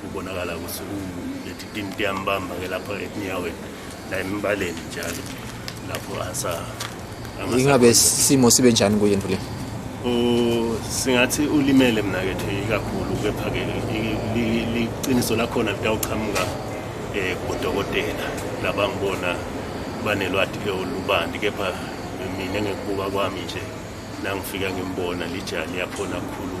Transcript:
kubonakala ukuthi ulethi tinti yambamba ke lapha etinyaweni la embaleni njalo lapho asa ingabe isimo sibe njani kuye ndule singathi ulimele mna ke thi ikakhulu kepha ke liqiniso lakhona litawuqhamuka eh kudokotela labangibona banelwadi ke olubandi kepha mina ngekubuka kwami nje nangifika ngimbona lijali yakhona kukhulu